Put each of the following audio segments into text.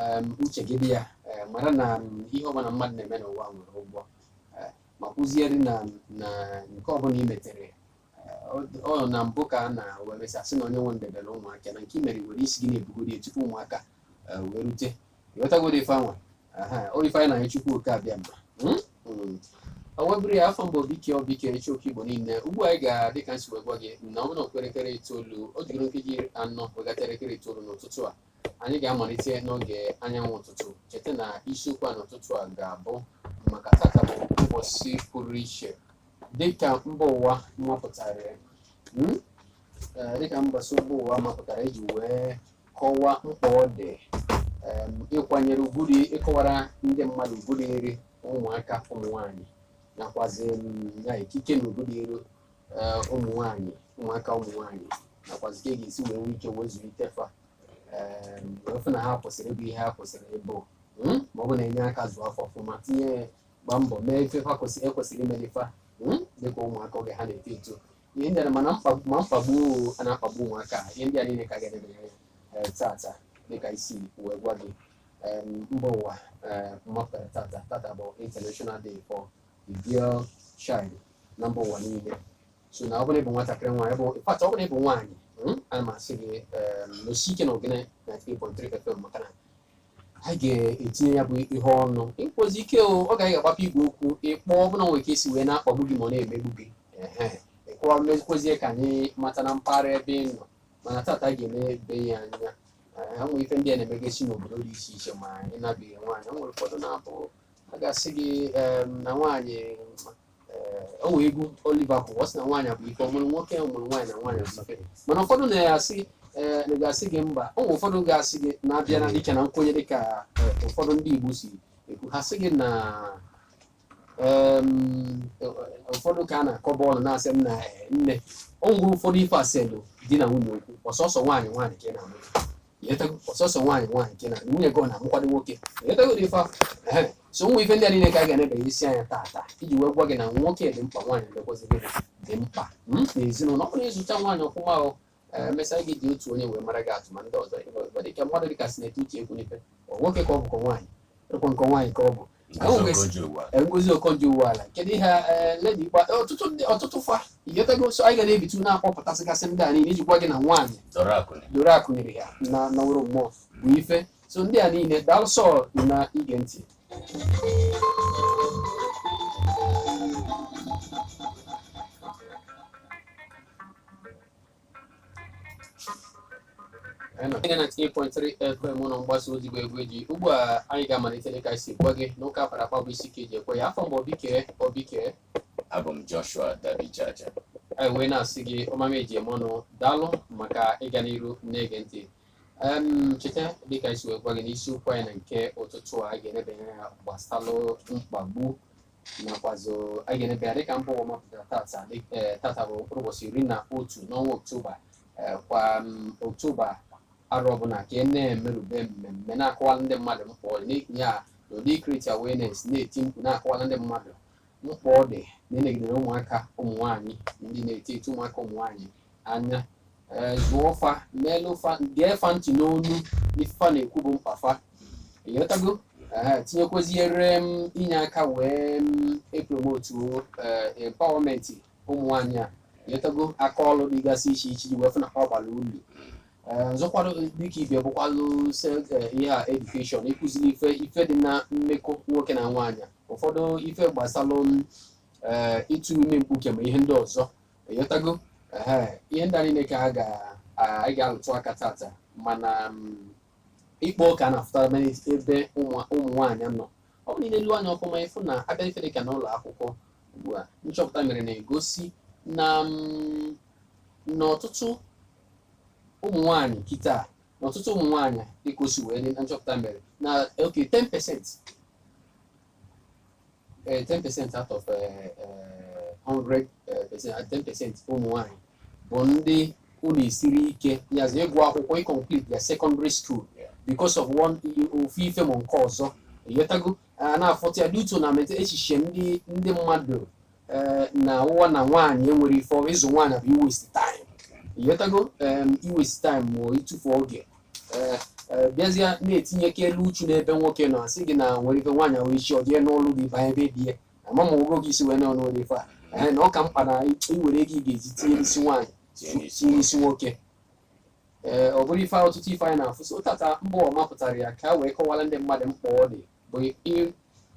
em, uche gị dị ya eh, mara na m, ihe ọbụla mmadụ na-eme n'ụwa nwere ụgwọ eh, ma kụziere na na nke ọbụla i metere eh, ọ- ọ nọ na mbụ ka a na-wee mesịa sị na onye mee e debere ụmụaka na nke i mere were isi gị na-ebugodi ya tupu ụmụaka eh, wee rute ị ghọtagoro ife anwa aha o ife anyị na-ayọ Chukwu oke abịama Mm? Mm. o wee bụrụ ya afa m bụ Obike Obike Ichoku Igbo niile ugbu a anyị ga dịka m si wee gwa gị na ọ bụrụ na ọ kụọ elekere itoolu o jigoro nkeji anọ wee gafa elekere itoolu n'ụtụtụ a anyị ga-amalite n'oge anyanwụ ụtụtụ cheta na isiokwu a n'ụtụtụ a ga-abụ maka tata bụ mbọsị pụrụ iche dịka mba ụwa mapụtara hmm? Eh, dịka mbọsị mba ụwa mapụtara iji wee kọwaa mkpa ọ dị em, ịkwanyere ugwu dị ịkọwara ndị mmadụ ugwu dịrị ụmụaka ụmụ nwanyị nakwazi em, ya ikike na ugwu dịrị ee, ụmụ nwaanyị ụmụaka ụmụ nwaanyị nakwazi ka a ga-esi wee nwee ike wee zụlite fa ee, wee fụ na ha kwesịrị ịbụ ihe ha kwesịrị ịbụ mm, ma ọ bụ na-enye aka zụọ fa ọfụma tinye gba mbọ mee ife fa kwesịrị ekwesịrị imeli fa mm, dịka ụmụaka oge ha na-eto eto ihe ndị a ma na mkpagbu ma mkpagbu a na-akpagbu ụmụaka a, ihe ndị a niile ka a ga-eneba anya ee, tata dịka m si wee gwa gị em, mba ụwa ee, mapụtara tata tata bụ international day for the girl child na mba ụwa niile so na ọ bụrụ ị bụ nwatakịrị nwaanyị bụ ịkpata ọ bụrụ ị bụ nwaanyị mm, ana m asị gị em, nọsie ike na ogene 93.3 FM maka na a ga-etinye ya bụ ihe ọnụ ị kpọzi ike o oge a ga-agbape igwe okwu ị kpọọ ọ bụrụ na o nwere ka e si wee na-akpagbu gị ma ọ na-emegbu gị ehe ị kpọọ mezikwazie ka anyị mata na mpaghara ebe ị nọ mana tata a ga-eneba ya anya Ee, ha nwere ife ndị a na-emegasị n'obodo dị iche iche ma ị nabighị nwaanyị o nwere ụfọdụ na-abụ a ga-asị gị em, na nwaanyị eh, o nwee egwu Oliver kụrụ ọ sị na nwaanyị bụ ife ọ mụrụ nwoke ọ mụrụ nwaanyị na nwaanyị bụ ife mana ụfọdụ na-asị eh, na ga-asị gị mba o nwere ụfọdụ ga-asị gị na a bịa na dịka na nkwenye dịka eh, ụfọdụ ndị Igbo si ekwu ha sị gị na em, eh, ụfọdụ ka a na-akọ bọọlụ na-asị m na eh, nne o nwere ụfọdụ ife eselu di na nwunye okwu ọ sọsọ nwaanyị nwaanyị ka ị na-amụ ị ghọtago ọ sọsọ nwaanyị nwaanyị nke na nwunye gị ọ na-amụkwanụ nwoke ị ghọtago dị ife ahụ Ehe. so ụmụ ife ndị a niile ka a ga-enebagasị anya taa taa iji wee gwa gị na nwoke dị mkpa nwaanyị mekwazịrị dị mkpa m na ezinụlọ ọ bụrụ na ị zụcha nwaanyị ọfụma ahụ emesịa e jiri otu onye wee maara gị atụ ma ndị ọzọ ịgba dịka mmadụ dịka Senator Uche Ekwunife ọ nwoke ka ọ bụkwa nwaanyị ọ kwa nke nwaanyị ka ọ bụ Ngozi Okonjo Iweala kedu ihe eh, Lady gba eh, ọtụtụ ndị ọtụtụ fa ị ghọtago so anyị ga na-ebitu na-akpọpụtasịgasị ndị a niile iji gwa gị na nwaanyị doro akụ nyere ya na naworo mmụọ bụ ife so ndị a niile daalụ sọ na ige ntị FM ụlọ mgbasa ozi bụ egwu eji ugbu a anyị ga-amalite dịka e si gwa gị n'ụka akpara akpa bụ isi ka eji ekwe ya afa m bụ Obike Obike abụ m Joshua Dabijaja anyị wee na-asị gị ọmama eji eme ọnụ daalụ maka ịga n'iru na-ege ntị cheta dịka e si wee gwa gị n'isiokwu anyị na nke ụtụtụ a ga-enebanye anya gbasalụ mkpagbu nakwazị a ga-enebe ya dịka mba ụwa mapụtara tata dị- eh, tata bụ mkpụrụ ụbọchị iri na otu n'ọnwa oktoba eh, kwa mm, oktoba arọ ọbụla ka e na-emerube mmemme na-akọwala ndị mmadụ mkpa ọ dị n'ihi ya n'ụdị create awareness na-eti mkpu na-akọwala ndị mmadụ mkpa ọ dị na ịnegidere ụmụaka ụmụ nwaanyị ndị na-eto eto ụmụaka ụmụ nwaanyị anya ee zụọ fa meelụ fa gee fa ntị n'onu ife fa na-ekwu bụ mkpa fa ịghọtago ee tinyekwaziere m inye aka wee m epromotu ee empowerment ụmụ nwaanyị a ịghọtago aka ọlụ dịgasị iche iche ji wee fụ na ha ọ bara ulu ee ọzọkwa dịka ibe bụkwalụ se- eh, ihe a education ịkụziri ife ife dị na mmekọ nwoke na nwaanyị ụfọdụ ife gbasalụ m ee ịtụ ime mkpuke ma ihe ndị ọzọ ịghọtago Ehe, ihe ndị a niile ka a ga- a- anyị ga-alụtụ aka tata mana mm, ịkpọ ka a na-afụtara ebe ebe ụmụ ụmụ nwaanyị nọ ọ bụrụ na elu anya ọfụma ị fụ na a bịa ife dịka n'ụlọ akwụkwọ ugbu a nchọpụta mere na-egosi na mm, na ọtụtụ ụmụ nwaanyị kịta na ọtụtụ ụmụ nwaanyị dịka o si wee dị na nchọpụta mere na oke 10% eh, 10% out of eh, eh, 100 eh, percent, ah, 10% ụmụ nwanyị bụ ndị ọ na-esiri ike yazi ịgụ akwụkwọ ịkọmplete their secondary school because of one ofu ife ma nke ọzọ ịghọtago a na-afụta ya due to na mete echiche ndị ndị mmadụ eh, na ụwa na nwaanyị enwerọ ife ọrụ ịzụ nwaanyị bụ iwaste time ịghọtago em, iwaste time ma ịtụfu oge eh, eh, bịazie na-etinyekalụ uchu n'ebe nwoke nọ asị gị na nwere ike nwaanyị nwere isi ọ jee nụlụ di banye be di ya ama m ogo gị isi wee na ọnụ ife a ee na ọ ka mkpa na iwere ego ị ga-eji tinye n'isi nwaanyị tinye n'isi nwoke ee ọ bụrụ ife ọtụtụ ife anyị na-afụsị tata mba ụwa mapụtara ya ka a wee kọwara ndị mmadụ mkpa ọ dị bụ ị-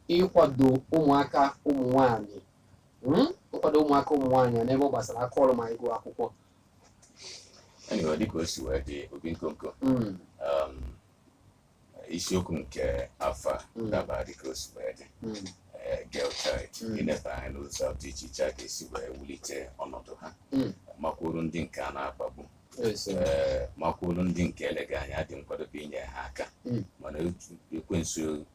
ịkwado ụmụaka ụmụ nwaanyị Mm? ịkwado ụmụaka ụmụ nwaanyị n'ebe ọ gbasara aka ọrụ ma ịgụ akwụkwọ Anyway, dịka o si wee dị obi nkonko Mm, um, isiokwu nke afọ a Mm. dabara dịka o si wee dị mm, eh, girl child Mm. ịnebe anya n'ụzọ dị iche iche a ga-esi wee wulite ọnọdụ ha Mm. makwuru ndị nke a na-akpagbu yes, eh, ee makwuru ndị nke eleghị anya dị nkwadobe inye ha aka Mm. mana ekwensu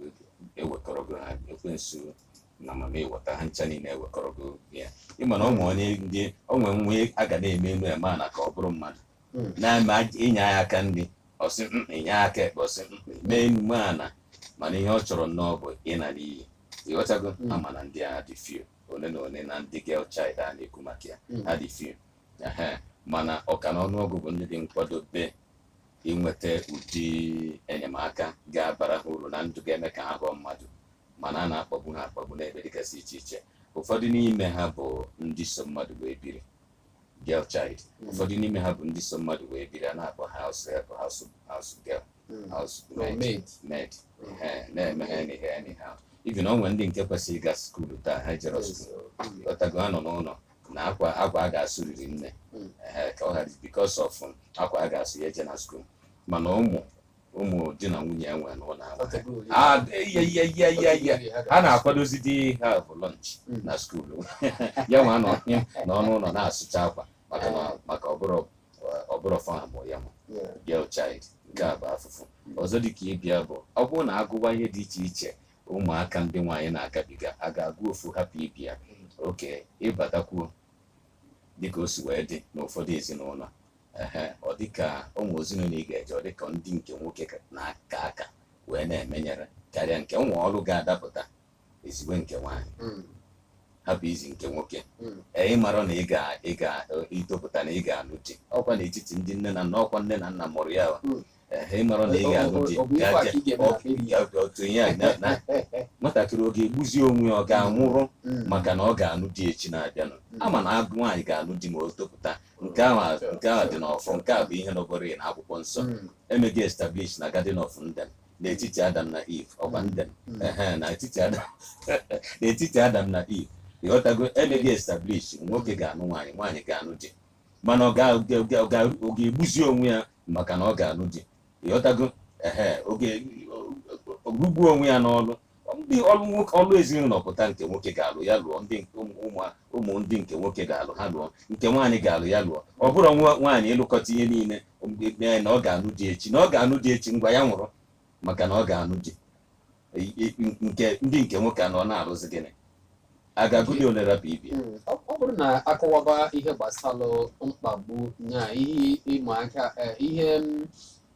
ewekọrọgo ha ekwensu na mama ịghọta ha ncha niile ewekọrọgo ya ịma na ụmụ onye ndị o nwee nwa a ga na-eme enu eme ana ka ọ bụrụ mmadụ hmm. na-eme inye ya aka nri ọ sị mm, inye aka ekpe ọ sị mm, mee enu mee ana mana ihe ọ chọrọ nnọọ bụ ịna n'iyi ịghọtago hmm. ama na ndị a dị few ole na ole na ndị girl child a na-ekwu maka ya hmm. ha dị few mana ọka na ọnụọgụ bụ ndị dị nkwadobe inweta ụdị enyemaka ga-abara ha uru na ndụ ga-eme ka ha ghọọ mmadụ mana a na-akpagbu ha akpagbu n'ebe dịgasị iche iche ụfọdụ n'ime ha bụ ndị so mmadụ wee biri girl child hmm. ụfọdụ n'ime ha bụ ndị so mmadụ wee biri a na-akpọ house help house house girl hmm. house maid maid na-eme ha anyhow anyhow even o nwee ndị nke kwesịrị ịga skuulu taa ha ejerọ skuulu ịghọtago ha nọ n'ụlọ na akwa akwa a ga-asụriri nne hmm. ka ọ ghara because of akwa a ga-asụ ya ejena skuulu mana ụmụ ụmụ di na nwunye nwe ụlọ ha na-akwadozi di ha bụ lunch hmm. na skuulu ya nwa nọ n'ọnụ ụlọ na-asụcha akwa maka ọ bụrọ ọ bụrọ fa mụ ya bụ girl child nke a bụ afụfụ ọzọ dị ka ịbịa bụ ọ bụrụ na agụwa ihe dị iche iche ụmụaka ndị nwaanyị na-agabiga a ga-agụ ofu hapụ ibe ya okay ị batakwuo dịka o si wee dị n'ụfọdụ ezinụlọ ehe ọ dịka o nwee ezinụlọ ị ga-eje ọ dịka ndị nke nwoke ka- na-aka aka wee na-emenyere karịa nke o nwee ọrụ ga-adapụta e ziwe nke nwaanyị Mm, hapụ izi nke nwoke mm, ee ịmara na ị ga ị ga-etopụta na ị ga-alụ di ọkwa n'etiti ndị nne na nna ọkwa nne na nna mụrụ ya wa. Mm. ịmara na ị ga-alụ di otu ihe a nwatakịrị ọ ga-egbuzi onwe ya ọ ga-anwụrụ mm. maka na ọ ga-alụ di echi na-abịanụ mm. ama na agụ nwaanyị ga-alụ di ma o topụta nke ahụ dị n'ọfọ nke a bụ ihe nọgoro na akwụkwọ nsọ mm. e mego ya establish na Garden of Eden n'etiti Adam na Eve ọgba Eden n'etiti Adam na Eve ịghọtago e mego ya establish nwoke ga-anụ nwaanyị nwaanyị ga-anụ di mana ọ ga- ga- ga- ga- ọ ga-egbuzi onwe ya maka na ọ ga-alụ di ịghọtago ehe ọ ga-alụgbu onwe ya n'ọlụ ndị ọlụ nwoke ọlụ ezinụlọ pụta nke nwoke ga-alụ ya lụọ ndị nke ụmụ ụmụ- ụmụ ndị nke nwoke ga-alụ ha lụọ nke nwaanyị ga-alụ ya lụọ ọ bụrụ nwa nwaanyị ịlụkọta ihe niile mgbe mee na ọ ga-anụ di echi na ọ ga-anụ di echi ngwa ya nwụrụ maka na ọ ga-anụ di nke ndị nke nwoke anọ na-arụzi gịnị a ga-agụli ole rapụ ibe ya Mm, ọ ọ bụrụ na akọwaba ihe gbasara mkpagbu na ihe ịma aka eh, ihe mm,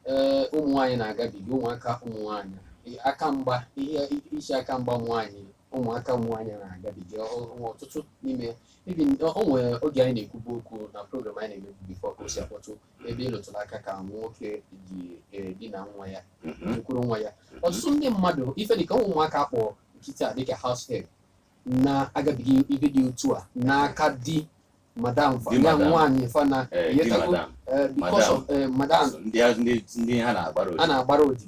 eh, ụmụ nwaanyị na-agabiga ụmụaka ụmụ nwaanyị eh, aka mgba ihe isi aka mgba ụmụ nwaanyị ụmụaka ụmụ nwaanyị na-agabiga ọ- ọ- ọtụtụ n'ime ya. Even, ọ ọ nwere oge anyị na-ekwubu okwu na program anyị na-emebu before ka o si akpọtụ ebe ị rụtụrụ aka ka nwoke ji edina nwa ya kwuru nwa ya ọtụtụ ndị mmadụ ife dịka ụmụaka akpọ nkịta a dịka house help na-agabiga ife dị otu a n'aka di madam Di ya madam. nwaanyị fana Eh, di yetago madam, eh, because madam. of eh, madam So, ndị a- ndị ndị ha na-agbara a odibo na-agbara odibo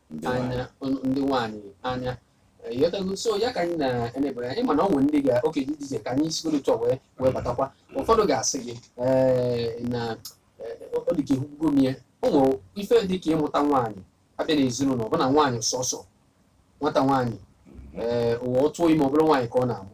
anya ndị nwaanyị anya ịghọtago so ya ka anyị na-enebere anya mana ọ nwere ndị ga oke dị iche ka anyị sigodu etu a wee wee batakwa ụfọdụ ga-asị gị ee na ọ dị ka ekwugo m ya o nwere ife dị ka ịmụta nwaanyị a bịa n'ezinụlọ ọ bụ na nwaanyị sọsọ nwata nwaanyị ee ụwa ọ tụọ ime ọbụla nwaanyị ka ọ na-amụ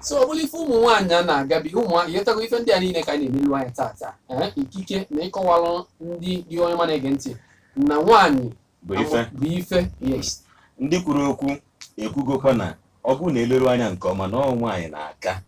so ọ bụrụ ife ụmụ nwaanyị a na-agabiga ụmụ nwaanyị ịghọtago ife ndị a niile ka anyị na-enelu anya tata ee ikike na ịkọwalụ ndị dị onye ọma na-ege ntị na nwaanyị bụ ife bụ ife yes ndị kwuru okwu ekwugokwa na ọ bụrụ na e leru anya nke ọma na ọ nwaanyị na-aka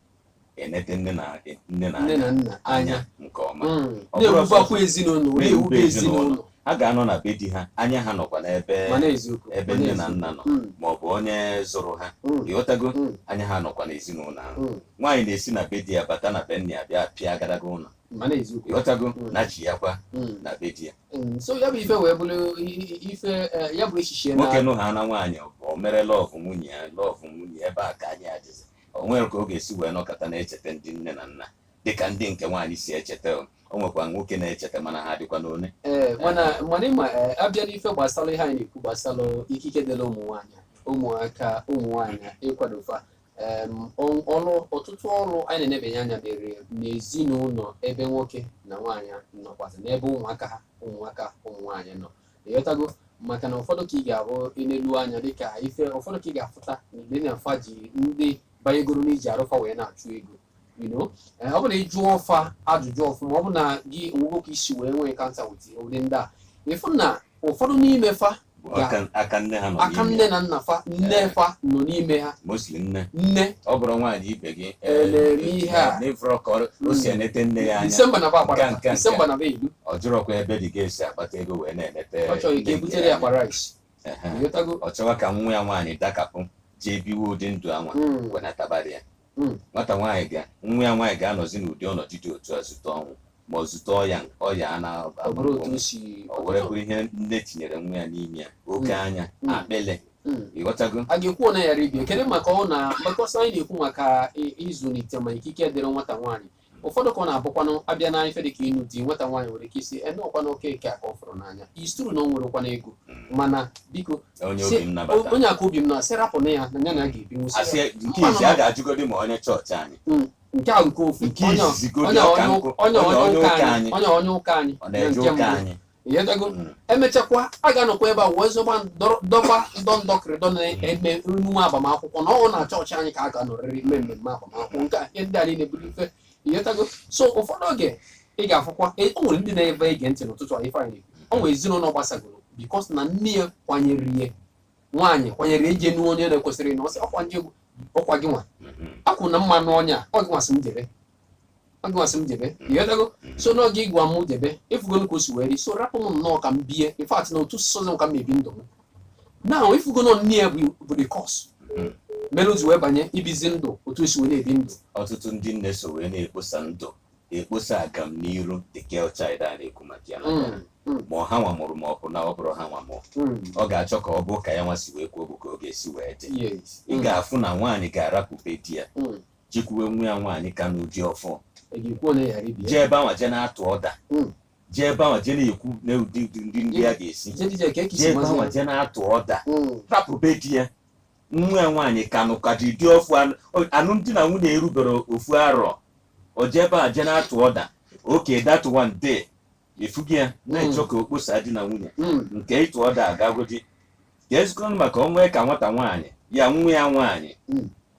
enete nne na nne na nne anya na nna anya nke ọma Mm. Ọ bụrụ na-ewubakwa ezinụlọ na-ewube na-ewube ezinụlọ ezinụlọ. ha ga-anọ na be di ha anya ha nọkwa n'ebe mana eziokwu ebe mana nne na eziokwu. nna nọ Mm, ma ọ bụ onye zụrụ ha mm, ịghọtago mm, anya ha nọkwa n'ezinụlọ ahụ mm. nwaanyị na-esi na be di ya bata na be nne ya bịa pịa agadaga ụlọ mana eziokwu ịghọtago Mm. na chi ya kwa Mm, na be di ya mm. so ya bụ ife wee bụrụ i- i- ife eh, ya bụ echiche na nwoke nụhaana nwaanyị ọ bụ- o mere love nwunye ya love nwunye ya ebe a ka anyị adịzi o nwere ka ọ ga-esi wee nọkọta na-echeta ndị nne na nna dịka ndị nke nwaanyị si echeta o o nwekwa nwoke na-echeta mana ha dịkwanụ one ee mana mana ị ma ee, a bịa n'ife gbasara ihe anyị na-ekwu gbasara ikike dịrị ụmụ nwaanyị ụmụaka ụmụ nwaanyị ịkwado fa em, ọ- ọrụ ọtụtụ ọrụ anyị na-enebanye anya mere n'ezinụlọ ebe nwoke na nwaanyị nọkwasị n'ebe ụmụaka ha ụmụaka ụmụ nwaanyị nọ ịghọtago maka na ụfọdụ ka ị ga-ahụ i nelu anya dịka ife ụfọdụ ka ị ga-afụta na ile na afa ji ndị banyegoro n'iji arụ fa wee na-achụ ego you know eh, ọ bụ na ị jụọ fa ajụjụ ọfụma ọ bụ na gị o nwego ka i si wee nwee encounter with ụdị ndị a ị fụ na ụfọdụ n'ime fa Bụ Ya. aka- aka nne ha nọ aka n'ime nne ya. na nna fa nne fa nọ n'ime ha mostly nne nne ọ bụrụ nwaanyị ibe gị Eh, na-eme ihe a. na ị fụrọ ka ọ- o si enete nne ya anya disemba na ba Nke a, agbara nke a, disemba na ba edu ọ jụrọkwa ebe ị ga-esi akpata ego wee na-enete ọ chọrọ ka a na-ebutere ya ya akpa rice Ehe. ịghọtago ọ chọwa ka nwa ya nwaanyị dakapụ jee biwe ụdị ndụ anwa Mm. wenatabara ya Hmm. nwata nwaanyị ga nwa ya nwaanyị ga-anọzi n'ụdị ọnọdụ dị otu a zute ọnwụ ma ọ zute ọya ọya a ọ bụrụ otu o si o were bụrụ ihe nne tinyere nwa ya n'ime ya oke Hmm. anya Hmm. akpịlị Mm. ịghọtago a ga-ekwu na ya ribie kedu maka ọ na because anyị na-ekwu maka i- ịzụlite ma ikike dịrị nwata nwaanyị ụfọdụ ka ọ na-abụkwanụ abịa na ife dịka ịnụ di nwata nwaanyị nwere ike ịsị na ọ kwa nwoke nke a ka ọ fụrụ n'anya it's true na o nwerọkwanụ ego mana biko onye si- obi m nabata onye a ka obi m na sị rapụ na ya na ya nwa ga-ebi nwụsị asị ya. nke izi a ga-ajụgodi ma onye chọọchị anyị nke a nke ofu nke onye izizi godi onye ọka onye nkụ ụka onye onye onye ụka ụka anyị anyị onye onye ụka anyị ọ na-eje nke ụka mbụ. anyị ịghọtago Mm. emechakwa a ga-anọkwa ebe a wee zọgba ndọrọ- dọba ndọ ndọkịrịdọ na mmemme agbamakwụkwọ na ọ na chọọchị anyị ka a ga-anọrịrị ime mmemme agbamakwụkwọ nke a ihe ndị a niile bụrụ ife ịghọtago so ụfọdụ oge ị ga-afụkwa e- o nwere ndị na-ebe ege ntị n'ụtụtụ a ife anyị na-ekwu. o nwere ezinụlọ gbasagoro because na nne ya kwanyere ihe nwaanyị kwanyere ije nụ onye na-ekwesịrọ na ọ sị ọkwa gị ọkwa gị nwa Mhm. akwụ na mmanụ ọnya ọ gị nwa sị m jere ọ gị nwa sị m jebe ịghọtago so n'oge ị gwa m jebe ịfụgonụ ka o si wee dị so rapụ m nnọọ ka m bie in fact na otu sọrọ m ka m ebi ndụ m na ịfụgonụ nne ya bụ bụ the cause mere o ji wee banye ibizi ndụ otu o si wee na-ebi ndụ ọtụtụ ndị nne so wee na-ekposa ndụ ekposa agamniru the girl child a na-ekwu maka ya Mm, mm, ma ọ ha nwa mụrụ ma ọ bụ na ọ bụrọ ha nwa mụrụ mm, ọ ga-achọ ka ọ bụ ka ya nwa si wee kwuo bụ ka ọ ga-esi wee dị yes, ị mm, ga-afụ na nwaanyị ga-arapụ be di ya mm, jekwuwe nwa ya nwaanyị ka nụ di ọfụ jee ebe anwa jee na-atụ ọda hmm. jee ebe anwa jee na-ekwu na ụdị ndị ndị ya ga-esi jee ebe anwa jee na-atụ ọda hmm. rapụ be di ya nwa ya nwaanyị ka nụka di di ọfụ alụmdi na nwunye erubero ofu arọ o jee ebe a jee na-atụ ọda okay that one dey ị fụkwa ya na-achọ hmm. ka o kposa di na nwunye nke ịtụ ọda agagodi ka ezikọnụ maka onwe ka nwata nwaanyị ya nwa ya nwaanyị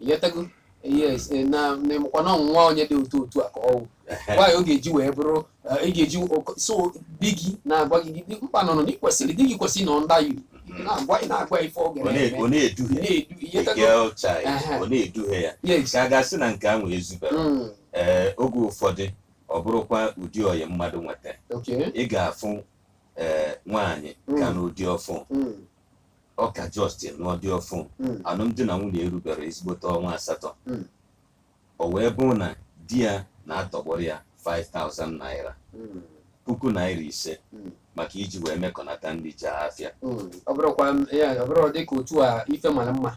ịghọtago yes eh, na na ịmakwa na ọ wụ nwaanyị dị otu otu a ka ọ wụ nwaanyị ọ ga-eji wee bụrụ eh, ị ga-eji ọkọ- so di gị na-agwa gị gị mkpa nọ nọ na ị kwesịrị di gị kwesịrị nọ under you na-agwa ị na-agwa ife ọ ọ na- ọ ga-eme na-eduhie na-edu the ịghọtago girl child Aha. ọ na-eduhie ya yes ka a ga-asị na nke anwa ezubero Mm, ee oge ụfọdụ ọ bụrụkwa ụdị ọyị mmadụ nweta okay ị ga-afụ ee nwaanyị ka Mm. nụ di ọfụ Mm, ọ ka just nụọ di ọfụ Mm. alụmdi na nwunye erubero ezigbote ọnwa asatọ Mm. o wee bụ na di ya na-atọgbọrọ ya 5000 naira Mm. puku naira ise Mm. maka iji wee mekọnata ndị ji afịa Mm. ọ bụrụkwa m- ya ọ bụrụ dịka otu a ife mara mma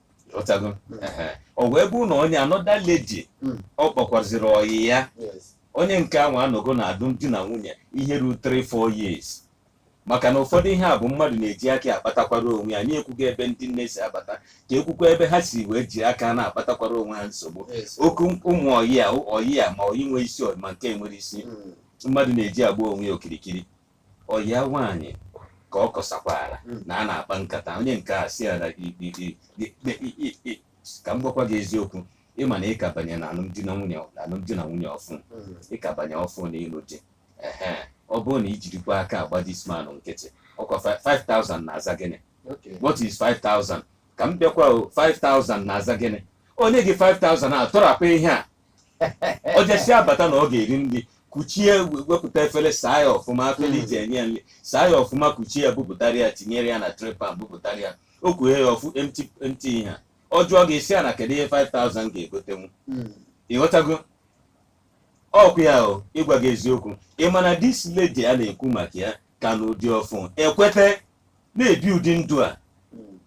ọtago ehe. ọ wee bụrụ na onye another lady Mm. ọ kpọkwaziri ọyị ya Yes. onye nke ahụ anọgo na alụmdi na nwunye ihe ruo 3-4 years maka na ụfọdụ ihe a bụ mmadụ na-eji aka ya akpatakwara onwe ya anyị ekwugo ebe ndị nne si abata ka ekwukwa ebe ha si wee ji aka na-akpatakwara onwe ha nsogbu Yes. okay ụmụ ọyị a ọyị a ma ọyị nwere isi ọyị ma nke enwerọ isi Mm. mmadụ na-eji agba onwe ya okirikiri ọyị ya nwaanyị ka ọ kọsakwara hmm. na a na-akpa nkata onye nke a si ya na ka m gwakwa gị eziokwu ịma na ị ka banye na alụmdi na nwunye na alụmdi na nwunye ọfụ hmm. ị ka banye ọfụ na ịlụ di ọ bụrụ na ijirikwa aka agba this man nkịtị ọkwa 5000 na-aza gịnị what is 5000 ka m bịakwa 5000 na-aza gịnị o nye gị 5000 a tọrapụ ihe a o jesi abata na ọ ga-eri nri kuchie wepụta efere saa ya ọfụma afere iji enye ya nri saa ya ọfụma kuchie ya bupụtara ya tinyere ya na tray pan bupụtara ya o kwughe ya ọfụ empty empty ihe a ọ jụọ gị i si ya na kedu ihe 5000 ga-egotenwu Mm. ịghọtago okwu ya o ịgwa gị eziokwu ị ma na this lady a na-ekwu maka ya ka nụ di ọfụ ekweta na-ebi ụdị ndụ a Mm.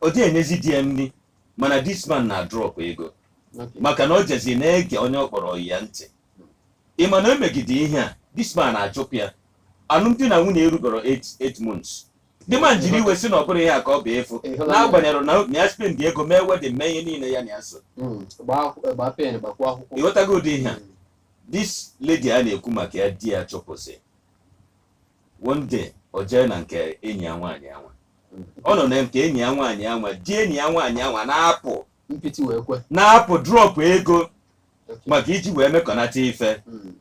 ọ dịghị enyezi di ya nri mana this man na-adrọpụ ego Okay. maka na ọ jezi na-ege onye ọ kpọrọ ọyị ya ntị ị ma na o megide ihe a this man achụpụ ya alụmdi na nwunye erubero 8 months the man jiri iwe si na ọ bụrụ ihe a ka ọ bụ efu Ịhụla ya. n'agbanyerọ na na ya spend ego mee wedding mee ihe niile ya na ya so Mm. Gbaa akwụ- gbaa pen gbakwuo akwụkwọ. ịghọtago ụdị ihe a Mm. this lady a na-ekwu maka ya di ya chụpụsị one day o jee na nke enyi ya nwaanyị anwa ọ nọ na nke enyi ya nwaanyị anwa di enyi ya nwaanyị anwa na-apụ mpịtị wee kwe na-apụ drọpụ ego maka iji wee mekọnata ife Mm.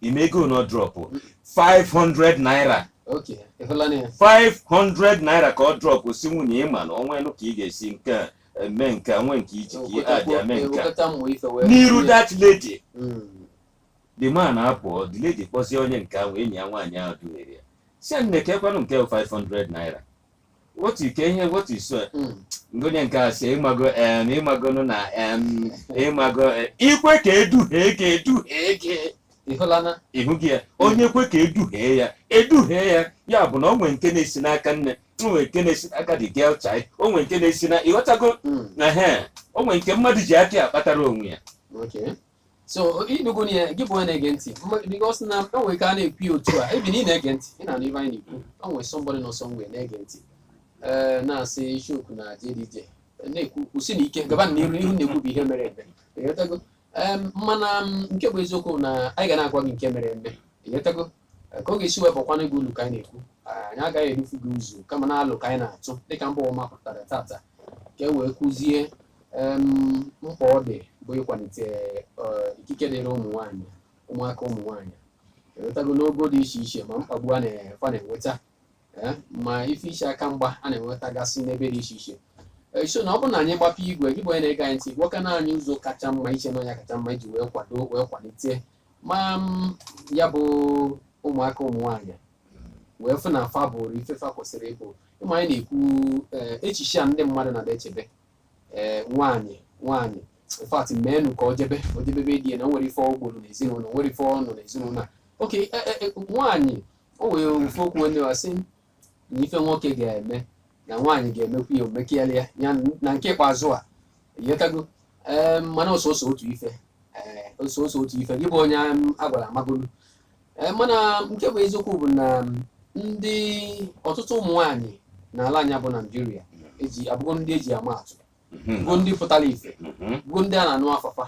ị ma ego one ọ drọpụ 500 naira okay ịhụla na ya 500 naira ka ọ drọpụ si nwunye ịma na o nwelu ka ị ga-esi nke a, eme nke a, nwe nke iji ka ị adị eme nke a. Ewekọta mmụ ife wee n'iru that lady Mm. the man apụọ the lady kpọzie onye nke ahụ enyi ya nwaanyị ahụ duhiere ya si ya nne kekwanụ nke 500 naira otu ike ihe otu iso onye nke a si ịmago em ịmagonụ na em ịmago eh, i kwe ka eduhie ka eduhie gị ịhụlana ịhụ gị ya onye kwe ka eduhie ya eduhie ya ya bụ na o nwere nke na-esi n'aka nne o nwere nke na-esi n'aka the girl child o nwere nke na-esi na ịghọtago na he o nwere nke mmadụ ji aka ya kpatara onwe ya okay so ịnụgo na ya gị bụ onye na-ege ntị mma- because na o nwere ka a na-ekwu ya otu a ebi na ị na-ege ntị ị na-anụ ife anyị na-ekwu o nwere somebody nọ somewhere na-ege ntị ee na-asị Ichoku na JDJ na-ekwu kwụsienụ ike gaba n'iru na ihe unu na-ekwu bụ ihe mere eme ịghọtago Em, mana m, nke bụ eziokwu na anyị ga na-agwa gị nke mere eme ịghọtago ka ọ ga-esi wee bakwana gị ulu ka anyị na-ekwu anyị agaghị edufu gị ụzọ kama na alo ka anyị na-atụ dịka mba ụwa mapụtara tata ka e wee kụzie em, mkpa ọ dị bụ ịkwalite eh, ikike dịrị ụmụ nwaanyị ụmụaka ụmụ nwaanyị enwetago n'ogo dị iche iche ma mkpagbu a na- fa na-enweta eh, ma ife iche aka mgba a na-enwetagasị n'ebe dị iche iche Eh, so na ọ bụrụ na anyị gbapee igwe gị bụ onye na-ege anyị ntị gwakwana anyị ụzọ kacha mma i che na ọ nya kacha mma iji wee kwado wee kwalite ma ya bụ ụmụaka ụmụ nwaanyị wee fụ na fa bụrụ ife fa kwesịrị ịbụ ịma anyị na-ekwu eh, echiche a ndị mmadụ na-echebe ee nwaanyị nwaanyị in fact meenụ ka o jebe o jebe be di ya na o nwere ife ọ gburu n'ezinụlọ o nwere ife ọ nọ n'ezinụlọ a oke e- e- e, nwaanyị o nwere ofu okwu onye wa sị na ife nwoke ga-eme na nwaanyị ga-emekwu ya o mekalịa ya na nke ikpeazụ ị ghọtago ee mana ọ sọsọ otu ife ee ọ sọsọ otu ife gị bụ onye a gwara amagolu ee mana nke bụ eziokwu bụ na ndị ọtụtụ ụmụ nwaanyị n'ala anyị bụ naijiria ee abụgo ndị eji ama atụ mhm. bụ ndị pụtara ife mhm. bụ ndị a na-anụ afa fa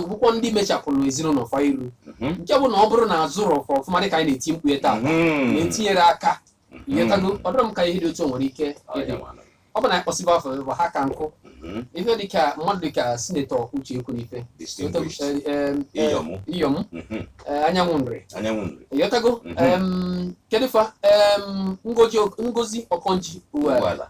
bụkwa ndị mechapụrụ ezinụlọ fa iru mhm. nke bụ na ọ bụrụ na a zụrụ fa ọfụma dịka anyị na-eti mkpu taa na-etinyere aka ị ghọtago ọ dịrị m ka ihe dị otu nwere ike ịdị ọ bụ na ị kpọsịba afa bụ ha ka nkụ ife dịka mmadụ dịka sinetọ uche ekwunife iyom anyanwụ nri ị ghọtago kedu fa ngozi okonjo iweala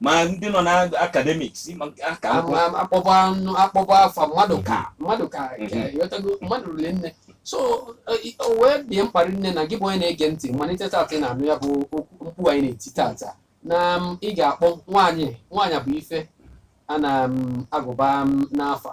ma ndị nọ na academics ma nke aka akwụkwọ Am- am- akpọbọ anụ akpọba afa mmadụ ka mmadụ ka Mhm. ka ị ghọtago mmadụ rili nne so eh, i- o wee dị mkpa rinne na gị bụ onye na-ege ntị malite tata ị na-anụ ya bụ okwu- mkpu anyị na-eti tata na m, ị ga-akpọ nwaanyị nwaanyị bụ ife a na-agụba n'afa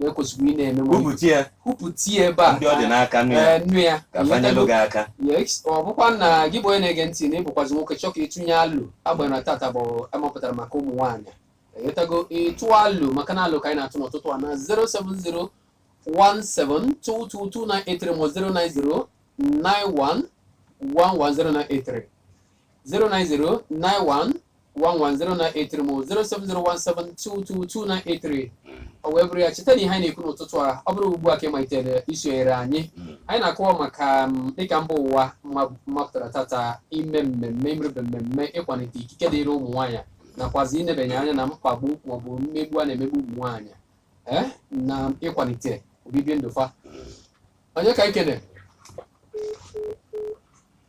na e kwesịrị ị na-eme nwa Kwupụta ya kwupụta ya ebe a ndị ọ dị n'aka nụ ya Eh, nụ ya ka fa nyelụ gị aka Yes, ọ bụkwa na gị bụ onye na-ege ntị na ị bụkwazi nwoke chọọ ka ị tụnye alo agbanyeghị na tata bụ a mapụtara maka ụmụ nwaanyị ị ghọtago ịtụ alo maka na alo ka anyị na-atụ n'ụtụtụ a na 07017222983 ma 09091110983 09091110983 ma 07017222983 o wee bụrụ ya cheta na ihe anyị na-ekwu n'ụtụtụ a ọ bụrụ ugbu a ka ị malitere isonyere anyị anyị na-akọwa maka m, dịka mba ụwa ma- mapụtara tata ime mmemme imebe mmemme ịkwalite ikike dịrị ụmụ nwaanyị nakwazi inebanye anya na mkpagbu maọbụ mmegbu a na-emegbu ụmụ nwaanyị ee na ịkwalite obibi ndụ fa onye ka ikene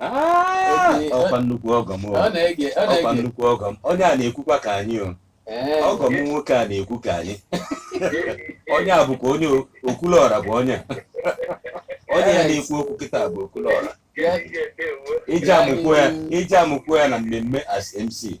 Ah! ọkwa nnukwu ọgọ m o. Ọ na-ege ọ ọkwa na-ege nnukwu ọgọ m onye a na-ekwukwa ka anyị o Ee, ọgọ m nwoke a na-ekwu ka anyị onye a bụkwa onye o- okwuluọra bụ onye a. onye ya na-ekwu okwu kịta bụ okwuluọra ya- e ji amakwu ya e ji amakwu ya na mmemme as mc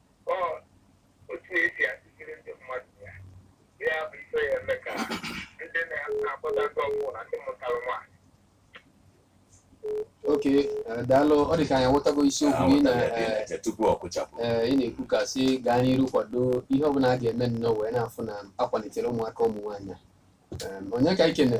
okay eh, daalụ ọ dị ka anyị aghọtago isiokwu gị na eh, eh, ị na-ekwu ka si gaa n'iru kwado ihe ọbụla a ga-eme nnọọ wee na-afụ na akwalitere ụmụaka ụmụ nwaanyị onye ka ikene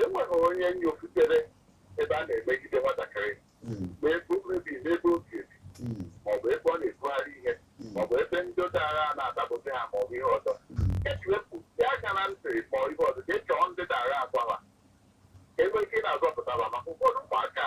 enweghị onye nyofutere ebe a na-emegide nwatakịrị hmm. ma ebe o bi na ebe o bi ebi hmm. maọbụ ebe ọ na-ebugharị ihe hmm. maọbụ ebe ndị dara a na-adapụta ha maọbụ ihe ọzọ ejiwepụ ya aka na ntị ma ihe ọzọ ka e chọọ ndị dara agwa ha enweghị ike na-azọpụtara maka ụfọdụ ụmụaka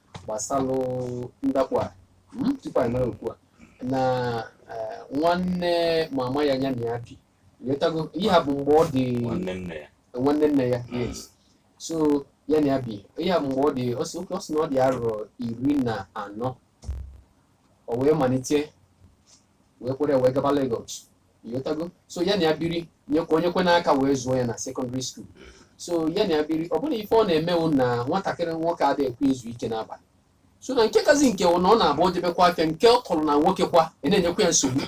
gbasalụ ndakpọ a mm, tupu anyị mara okwu a na eh, nwanne mama ya nya na ya bi ịghọtago ihe a bụ mgbe ọ dị nwanne nne ya nwanne nne ya yes so ya na ya bi ihe a bụ mgbe ọ dị ọ sị ọ sị na ọ dị arọ iri na anọ o wee malite wee kwere wee gaba Lagos ịghọtago so ya na ya biri nyekwa o nyekwa nya aka wee zụọ ya na secondary school so ya na ya biri ọ bụrụ ife ọ na-eme wụ na nwatakịrị nwoke adịghị ekwe izu ike n'abalị so na nke kazi nke wụ na ọ na-abụ o jebekwa afịa nke ọ tọrọ na nwoke kwa na-enyekwa ya nsogbu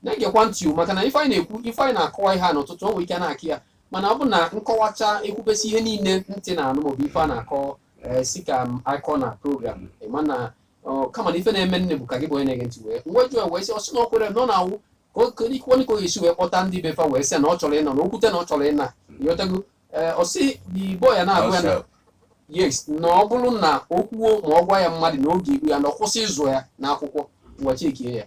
na-egekwa ntị o, maka na ife anyị na-ekwu ife anyị na-akọwa ihe a n'ụtụtụ o nwere ike na-akọ ya mana ọ bụ na nkọwacha ekwubesi ihe niile ntị na-anụ maọbụ ife a na-akọ ee, si ka m akọ na program ịma na Ọ, kama na ife na-emenụ bụ ka gị bụ onye na-ege ntị wee m wee jụọ ya wee sị ọ sị na ọ kwere na ọ na-awụ ka o kere ikwu onye ka ọ ga-esi wee kpọta ndị be fa wee sị na ọ chọrọ ịnọ na okwute na ọ chọrọ ịna ịghọtago ee ọ sị igbo ya na-agwa ya na Ọsọ. yes na ọ bụrụ na o kwuo ma ọ gwa ya mmadụ na ọ ga-egbu ya na ọ kwụsị ịzụ ya n'akwụkwọ ngwa chekie ya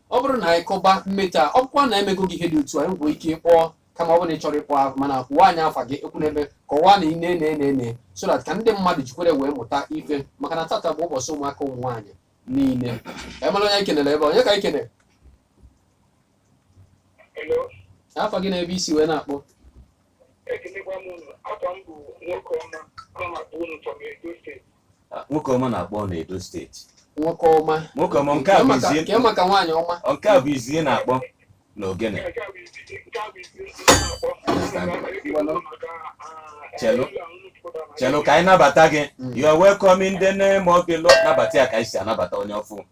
ọ bụrụ na anyị kọba mmetọ a ọ bụkwa na emego gị ihe dị otu a i nwekwa ike ịkpọ kama ọ bụrụ na ị chọrọ ịkpọ ahụ mana kwụwa anyị afa gị ekwuna ebe kọwaa na ị na-ene ene ene so that ka ndị mmadụ jikwere wee mụta ife maka na tata bụ ụbọchị ụmụaka ụmụ nwaanyị niile emela onye anyị kenere ebe a, onye ka anyị kenere Hello, afa gị na ebe i si wee na-akpọ ekelekwa m unu. Afa m bụ nwoke ọma, ana m akpọ unu from Edo steeti. nwoke ọma na-akpọ na Edo steeti nwoke ọma nwoke ọma nke a bụ izizi kee maka nwaanyị ọma nke a bụ izizi na-akpọ na Ogene chelu chelu ka anyị nabata gị you are welcome in the name of the Lord nabata ya ka anyị si anabata onye ọfụụ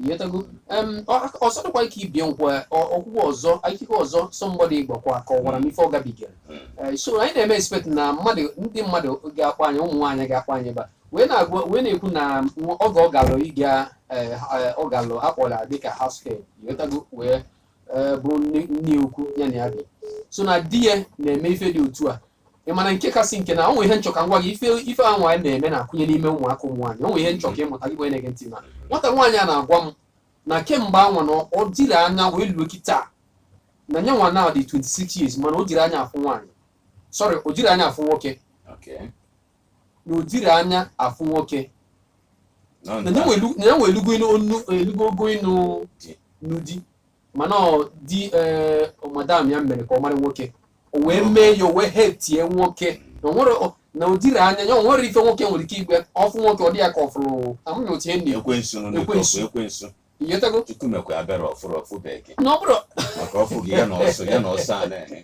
Ịghọtago. Um, ọzọ dịkwa ike ibie nkwa okwukwa ọzọ akụkọ ọzọ somebody gbakwa kọwara m ife ọ gabigara eh, so anyị na-eme expect na mmadụ ndị mmadụ ga-akpọ anyị ụmụ nwaanyị ga-akpọ anyị ebe a wee na-agwa wee na-ekwu na oge ọ galụ ịga eh, eh, ọ galụ akpọla dịka house girl ịghọtago wee bụrụ nne ukwu ya na ya bi so na di ya na-eme ife dị otu a ị ma na nke kasị nke na o nwere ihe m chọ ka m gwa gị ife ife a nwaanyị na-eme na-akụnye n'ime ụmụaka ụmụ nwaanyị o nwere ihe m chọ ka ị mụta gị na-ege ntị na nwata nwaanyị a na-agwa m na kemgbe anwa na ọ dịrị anya wee luo kịta na nya nwa na-adị 26 years mana o jiro anya afụ nwaanyị sorry o jiro anya afụ nwoke Okay. na o jiro anya afụ nwoke na ya nwa elugo ịnụ onu- elugo ogo ịnụ ịnụ di mana di eh, madam ya mere ka ọ mara nwoke o wee mee ya o wee hate-ie nwoke na o nwere na o jiro anya ya o nwero ife nwoke nwere ike ịgwa ya ọ fụ nwoke ọ dị ya ka ọ fụrụ amaghị otu ihe nne ekwensu nụ n'ụtọ Ekwensu. ọ fụ ekwensu ị ghọtago Chukwu mekwa ebere ọfụrụ ọfụ because na ọ bụrụ maka ọ fụ gị ya na ọsọ ya na ọsọ a na-eme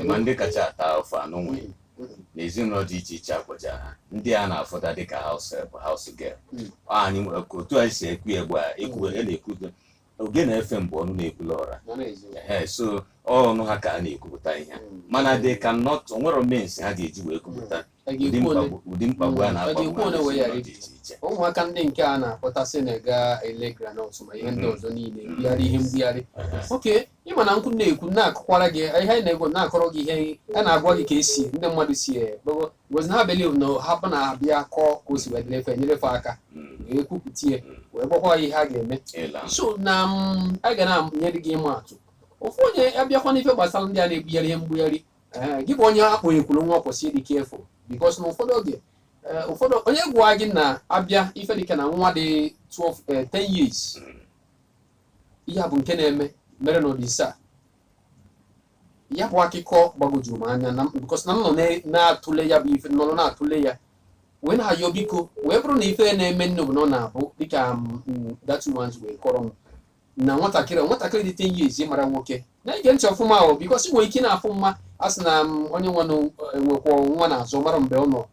ị ma ndị kacha ata afụfụ anụnwa n'ezinụlọ dị iche iche akpọcha ha ndị a na-afụta dịka house boy house girl anyị nwere ka otu anyị si ekwu ebe a ekwu e na-ekwu oge na-efe mgbe ọnụ na-ekwulu ọra ee so ọnụ ha ka a na-ekwupụta ihe mana they cannot enwerọ means ha ga-eji wee kwupụta ụdị mkpagbu ụdị mkpagbu a na-akpagbu Ọ ga-ekwu ha ole wee ghara n'ezinụlọ dị iche iche ụmụaka ndị nke a na-akpọtasị na-aga ele groundnut ma ihe ndị ọzọ niile mbugharị ihe mbugharị oke ị ma na okwu na-ekwu na-akụkwara gị ihe anyị na-ekwu na-akọrọ gị ihe a na-agwa gị ka esi ndị mmadụ si gbego gozi ha believe na hapụ na abịa kọọ ka o si wee dịrị fa e nyere fa aka Mm, wee kwupụta ya wee gwakwa ya ihe a ga-eme ịla so na m aga na-enye gị ịma atụ ofu onye abịakwa n'ife gbasara ndị a na-ebugharị ihe mbugharị ee gị bụ onye a kpọnyekwuru nwa kwesị ịdị careful because na ụfọdụ oge ee, ụfọdụ onye gwa gị na abịa ife dịka na nwa dị 12 eh, 10 years ihe a bụ nke na-eme mere n'Onitsha a. ya bụ akụkọ gbagwojuru m anya na because na m nọ na- na-atụle ya bụ ife nọrọ na-atụle ya wee na-ayọ biko wee bụrụ na ife na-eme nne bụ na ọ na-abụ dịka m, m, that ones wee kọrọ m na nwatakịrị nwatakịrị dị 10 years mara nwoke na-ege ntị ọfụma ahụ because ị nwere ike na-afụ mma a sị na m onye nwa enwekwa nwa na-azụ mara mgbe ọ nọ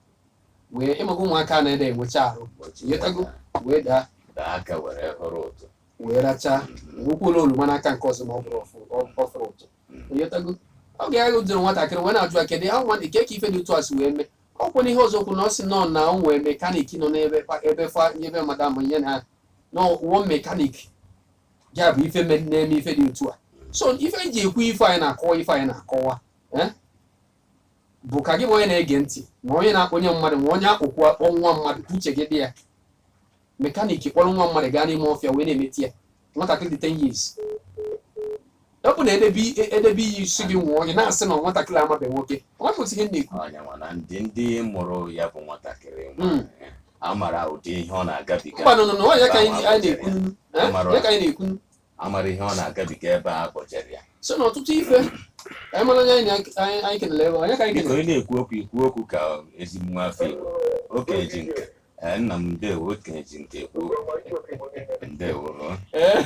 wee ị ma ka ụmụaka na-ede enwecha arụ ị ghọtago wee daa daa aka were hụrụ ụtụ wee rachaa nwekwuola oroma n'aka nke ọzọ ma ọ bụrụ ọfụ- ọ- ọ fụrụ ụtụ ị ghọtago ọ ga-agha jụrụ nwatakịrị wee na-ajụ ya kedu ya nwa dị ka eke ife dị otu a si wee mee ọ kwụna ihe ọzọ kwụ na ọ sị nọ na o nwee mechanic nọ n'ebe fa- ebe fa ebe madam ihe na na ọ bụ mechanic ya bụ ife me- na-eme ife dị otu a so ife anyị ji ekwu ife anyị na-akọwa ife anyị na-akọwa eh, bụ ka gị bụ onye na-ege ntị ma onye na-akpọnye mmadụ ma onye akpọkwa akpọ nwa mmadụ ka uche gị dị ya mechanic kpọrọ nwa mmadụ gaa n'ime ọfịa wee na-emetọ ya nwatakịrị dị 10 years ọ bụ na edebe edebe iyi sị gị ṅụọ ị na-asị na nwatakịrị amabeghị nwoke ọ bụ ihe m na-ekwu onye nwa na ndị ndị mụrụ ya bụ nwatakịrị nwa Mm. ya. a mara ụdị ihe ọ na-agabiga mba no no no ya ka anyị anyị na-ekwunu. Eh? Mara. ya ka anyị na-ekwunu. a mara ihe ọ na-agabiga ebe a kpọjere ya so na ọtụtụ ife ka anyị mara onye anyị na- anyị anyị kenere ebe a, onye ka anyị biko kenere ị na-ekwu okwu i kwuo okwu ka ezigbo nwa afọ igbo okenye ji nka Eh, nna m ndewo okenye ji nka ekwu okwu. ndewo Eh?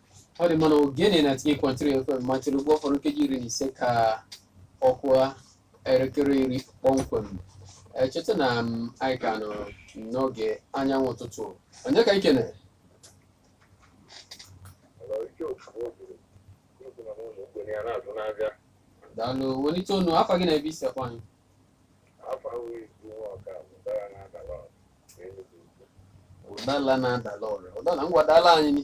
ọ dị mma Ogene ninety eight point three FM machiri ugbu ọ fọrọ nkeji iri na ise ka ọ kụa elekere iri kpọmkwem echeta na anyị ka nọ n'oge anyanwụ ụtụtụ onye ka anyị kene daalụ welite ọnụ afa gị na ebe i si akpọ anyị ụdala na-adala ọra ụdala ngwa dala anyị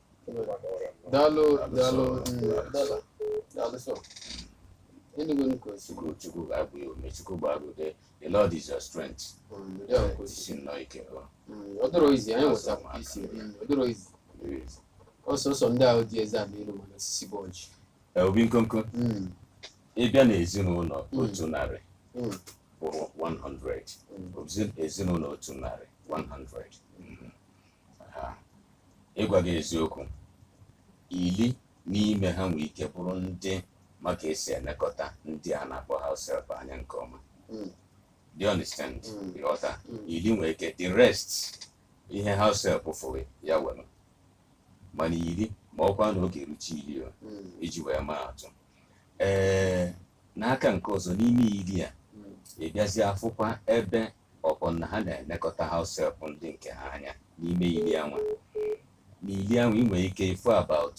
daalụ daalụ daalụ sọ enugo nuko chukwu chukwu gbaa gị ume chukwu gbara ude the lord is your strength jisie nnọọ ike ọ dịrọ easy anyị nwetara isi ọ dịrọ easy ọsọsọ ndị ahụ dị eze ama elu mana osisi bụ ọjị obi nkonko ị bịa na ezinụlọ otu narị bụrụ 100 ezinụlọ otu narị 100 ịgwa gị eziokwu ili n'ime ha nwere ike bụrụ ndị ma ka e si elekọta ndị a na-akpọ house help anya nke ọma hmm. do you understand hmm. ị ghọta hmm. ili nwere ike the rest ihe house help fụrụ ya were mana ili ma ọ kwa na ọ ga-erucha ili e ji wee maa atụ ee n'aka nke ọzọ n'ime ili a ị bịazi afụkwa ebe ọ bụ na ha na-elekọta house help ndị nke ha anya n'ime ili anwa n'ili anwa ị nwere ike ịfụ about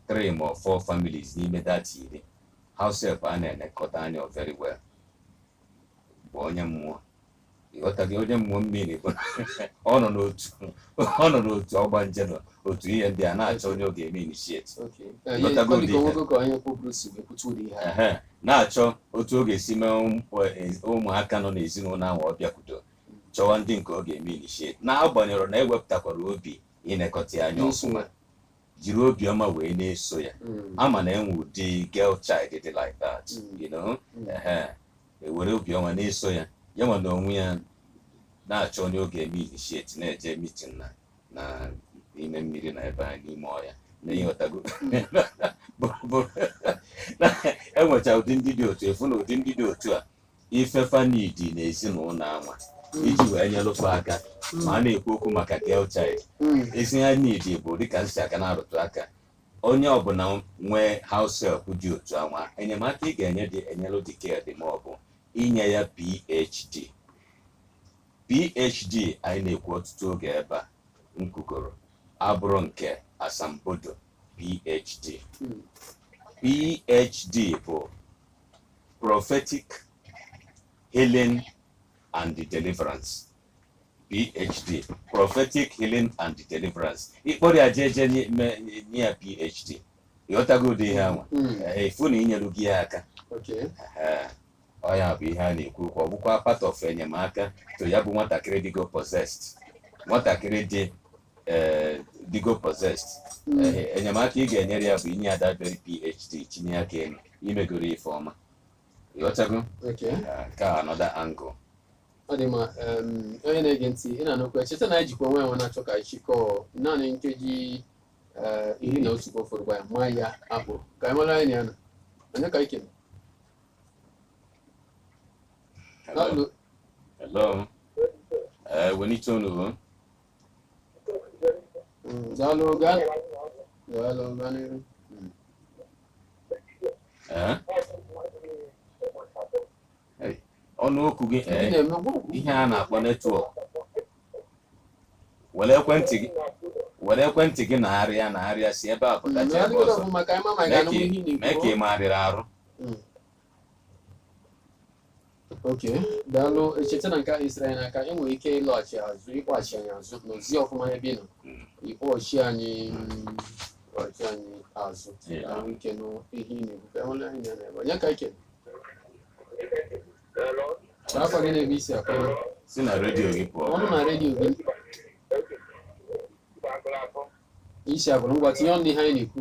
three ma four families n'ime that iri house help a na-elekọta anya very well bụ onye mmụọ ị ghọtago onye mmụọ mmiri bụ ọ nọ n'otu ọ nọ n'otu ọgbanje n'otu ihe ndị a na-achọ onye ọ ga-eme initiate na-achọ otu ọ ga-esi mee ụmụaka nọ n'ezinụlọ ahụ ọ bịakwudo chọwa ndị nke ọ ga-eme initiate na-agbanyerọ na e wepụtakwara obi ịnekọta ya anya ọfụma jiri obiọma wee na-eso ya a ma na e nwere ụdị girl child dị like that you know ehe e were obiọma na-eso ya ya nwa na onwe ya na-achọ onye ọ ga-eme initiate na-eje meeting na na n'ime mmiri na ebe anyị n'ime ọhịa na ịghọtago enwecha ụdị ndị dị otu ị fụ na ụdị ndị dị otu a ife fa need na ezinụlọ anwa iji wee nyelụkwa aka ma a na-ekwu okwu maka girl child Mm. ezi ha need bụ dịka m si aka na-arụtụ aka onye ọbụla nwee house help dị otu anwa enyemaka ị ga-enye dị enyelụ dị care dị mma ọ bụ inye ya phd PHD anyị na-ekwu ọtụtụ oge ebe a m kwugoro abụrọ nke asambodo PHD PHD bụ prophetic healing and deliverance PHD prophetic healing and deliverance ịkpọrọ ya jee jee nye- me- nye ya PHD ịghọtago ụdị ihe anwa ị fụ na inyelugo ya aka Okay. Ehe. ọ ya bụ ihe a na-ekwu okwu ọ bụkwa part of enyemaka to ya bụ nwatakịrị dịgo possessed nwatakịrị dị eh, dịgo possessed Eh, enyemaka ị ga-enyere ya bụ inye ya that very phd chinye aka elu imegoro ife ọma ịghọtago Okay. Ah, nke a another angle ọ dị mma em, onye na-ege ntị ị na-anụkwa cheta na anyị jikwa onwe enwe na-achọ ka anyị chịkọọ naanị nkeji eh, iri na otu ka ọ fọrọ gwa ya ma ya akpọ ka anyị mara anyị na ya na onye ka anyị kene Hello. Hello. Uh, wenite ọnụ. Hello, guy. Hello, guy. Eh? ọnụ okwu gị eh, ihe a na-akpọ netwọk were ekwentị gị were ekwentị gị na-arịa na-arịa si ebe a pụta jee ebe ọzọ mee ka ị megharịa arụ Hmm. ok daalụ echeta na nke ahụ isiri anyị n'aka e nwere ike ịlọghachi azụ ịkpọghachi anyị azụ nọzie ọfụma n'ebe ị nọ Mm. ịkpọghachi anyị mm, ịkpọghachi anyị azụ Yeah. ka anyị nwee ike nụ ihe ị na-ekwu ka ịhụla anyị na-ebe onye ka ike ka afa gị na ebe i si akpọ si na redio gị pụọ ọnụ na redio gị isi abụrụ ngwa tinye ọnụ n'ihe anyị na-ekwu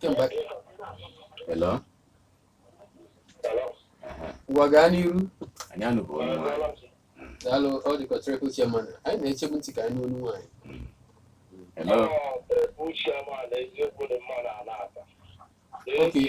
kemgbe hello ngwa gaa n'iru anyị anụbu olu nwaanyị daalụ ọ dịka triple chairman anyị na-echebu ntị ka anyị nụ olu nwaanyị hello okay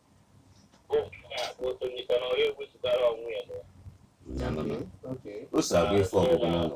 o so agụ ife ọgụgụ n'ụlọ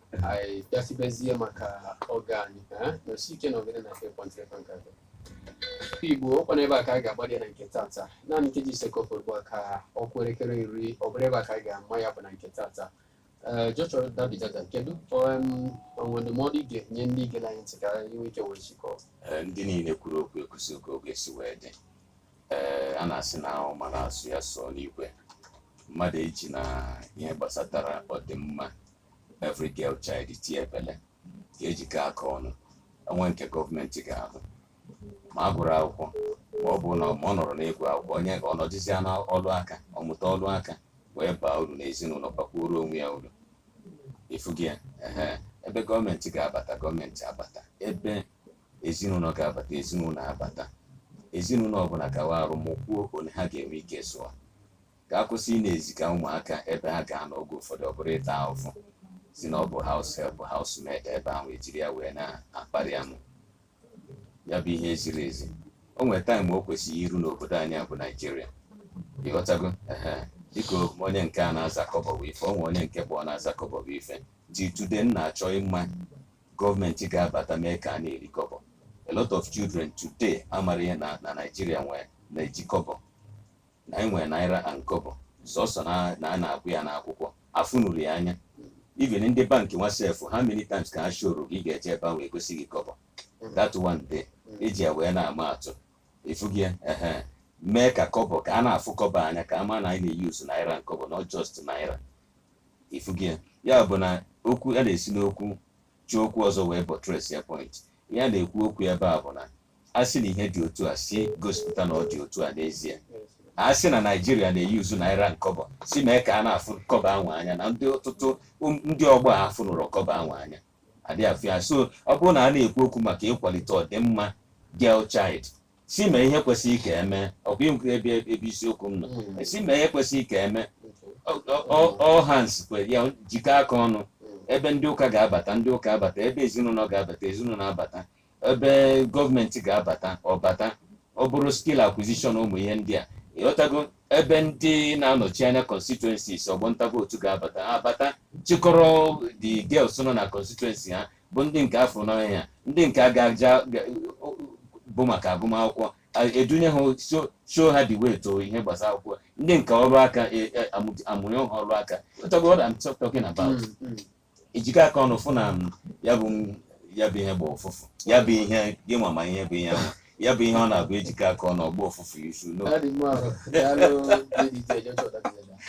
anyị bịasịbezie maka oge anyị ka nọsi ike na ogene na ekwentị ebe nke atọ igbo ọkwa n'ebe a ka anyị ga-agbalị na nke tata naanị nkeji ise ka ọ fọrọ ugbu a ka ọ kụọ elekere iri ọ bụrụ ebe a ka anyị ga-ama ya bụ na nke tata ee joshua dabidada kedu um, o nwe ndụmọdụ ị ga-enye ndị gere anyị ntị ka anyị nwee ike wee chịkọọ Ee, ndị niile kwuru okwu ekwusigo otu o si wee dị ee a na-asị na ọ mara asụ ya sụọ n'ikwe mmadụ eji na ihe gbasatara ọdịmma every girl child tie ebele ka ejikọ aka ọnụ o nwe nke gọọmenti ga-ahụ ma a gụrụ akwụkwọ ma ọ bụ na ma ọ nọrọ n'ịgụ akwụkwọ onye ka ọ nọdịzia na ọlụ aka ọ mụta ọlụ aka wee baa uru n'ezinụlọ bakwuoro onwe ya uru ịfụgo ya ehe ebe gọọmenti ga-abata gọọmenti abata ebe ezinụlọ ga-abata ezinụlọ abata ezinụlọ ọbụla gawa arụ mụkwuo ole ha ga-enwe ike zụọ ka a kwụsị ị na-eziga ụmụaka ebe ha ga-anọ oge ụfọdụ ọ bụrụ ịta ahụhụ sị na ọ bụ house help housemaid ebe ahụ ejiri ya wee na-akparị amụ ya bụ ihe ziri ezi o nwere taịm o kwesịrị iru n'obodo anyị a bụ naijiria ịghọtago ehe dịka onye nke a na-aza kọbọ bụ ife o nwe onye nke bụ ọ na-aza kọbọ bụ ife till today m na-achọ ịma gọọmenti ga-abata mee ka a na-eri kọbọ a lot of children today amarọ ihe na na naijiria nwee na-eji kọbọ na anyị nwere naira and kobo sọsọ na na a na-agụ ya n'akwụkwọ afụnurọ ya anya even ndị bankị nwa sef how many times ka ha shoro gị ga-eje ebe ahụ egosi gị kobo that one day eji ya wee na-ama atụ ịfụgo ya ehe mee ka kobo ka a na-afụ kobo anya ka a ma na anyị na-eyuzu naira and kobo not just naira ịfụgo ya ya bụ na okwu a na-esi n'okwu ji okwu ọzọ wee buttress ya point ya na-ekwu okwu ebe a bụ na a sị na ihe dị otu a sị gosipụta na ọ dị otu a n'ezie a sị na naijiria na-eyuzu naira and kọbọ sị mee ka a na-afụ kọbọ anwa anya na ndị ọtụtụ um, ndị ọgbọ a afụnurọ kọbọ anwa anya adị afụ ya so ọ bụrụ na a na-ekwu okwu maka ịkwalite ọdịmma girl child sị mee ihe kwesịrị ka eme ọ bụkwa ebe ebe isiokwu m nọ Mm. sị mee ihe kwesịrị ka eme Ọ- ọ- ọ- all hands ka e jikọ aka ọnụ ebe ndị ụka ga-abata ndị ụka abata ebe ezinụlọ ga-abata ezinụlọ abata ebe gọọmenti ga-abata ọ bata ọ bụrụ skill acquisition ụmụ ihe ndị a ịghọtago ebe ndị na-anọchi anya constituencies ọgbọ nta vootu ga-abata abata chịkọrọ the girls nọ na constituency ha bụ ndị nke a fụ n'anya ndị nke ga-aja bụ maka agụmakwụkwọ edunye ha show ha the way to ihe gbasara akwụkwọ ndị nke ọrụ aka e, e, amụnye ha ọrụ aka what I'm talking about mm, mm. ejikọ aka ọnụ fụ na ya bụ ya bụ ihe gbọọ ụfụfụ ya bụ ihe gị ma ihe bụ ihe ahụ ya bụ ihe ọ na-abụ ejikọ aka ọnụ ọ gbọọ ụfụfụ isu no That is more of Daalụ lady J. Joshua that is that.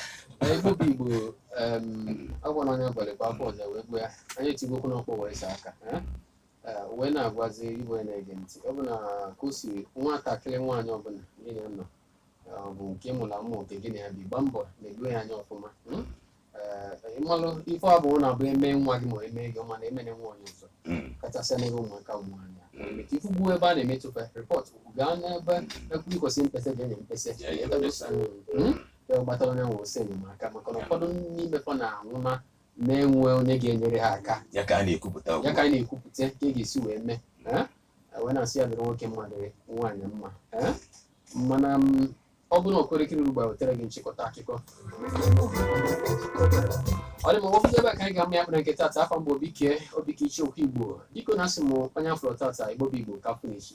Na Igbo bụ Igbo um, agwa na onye abalị bụ afọ ọzọ wee gbaa anyị etigbuo okwu n'ọkpọ wee saa aka eh? Eh, wee na-agwazi Igbo ya na-ege ntị ọ bụ na ka o si nwatakịrị nwaanyị ọbụla niile nọ ọ bụ nke ị mụrụ amụ nke gị na ya bi gbaa mbọ na-eledo ya anya ọfụma mm? Eh, ịmalụ ife ọ bụrụ na bụ eme nwa gị ma eme gị ọma na emene nwa onye ọzọ Mm. kachasị n'ebe ụmụaka ụmụ nwaanyị Mm. maka ị fụgo ebe a na-emetụta report gaa n'ebe ekwu ikwesị mkpesa ga enye mkpesa Ya enye mkpesa. Mm. ya gbatara onye nwe ọsọ enyemaka maka na Ya. ụfọdụ n'ime fa na-anwụ na na-enwe onye ga-enyere ha aka ya ka a na-ekwupụta ya ugbu ka a. anyị na-ekwupụta ka e ga-esi wee mee Eh? wee na-asị ya dịrị nwoke mma dịrị nwaanyị mma ee mana m ọ bụrụ na okorekiri ugbo wetere gị nchịkọta akụkọ ọ dị ma ọ bụzi ebe a ka anyị ga-ama ya bụ na nke tata afa m bụ Obike Obi Ikechukwu Igbo biko na asị m onye a fụrọ tata Igbo bụ Igbo ka a fụ n'echi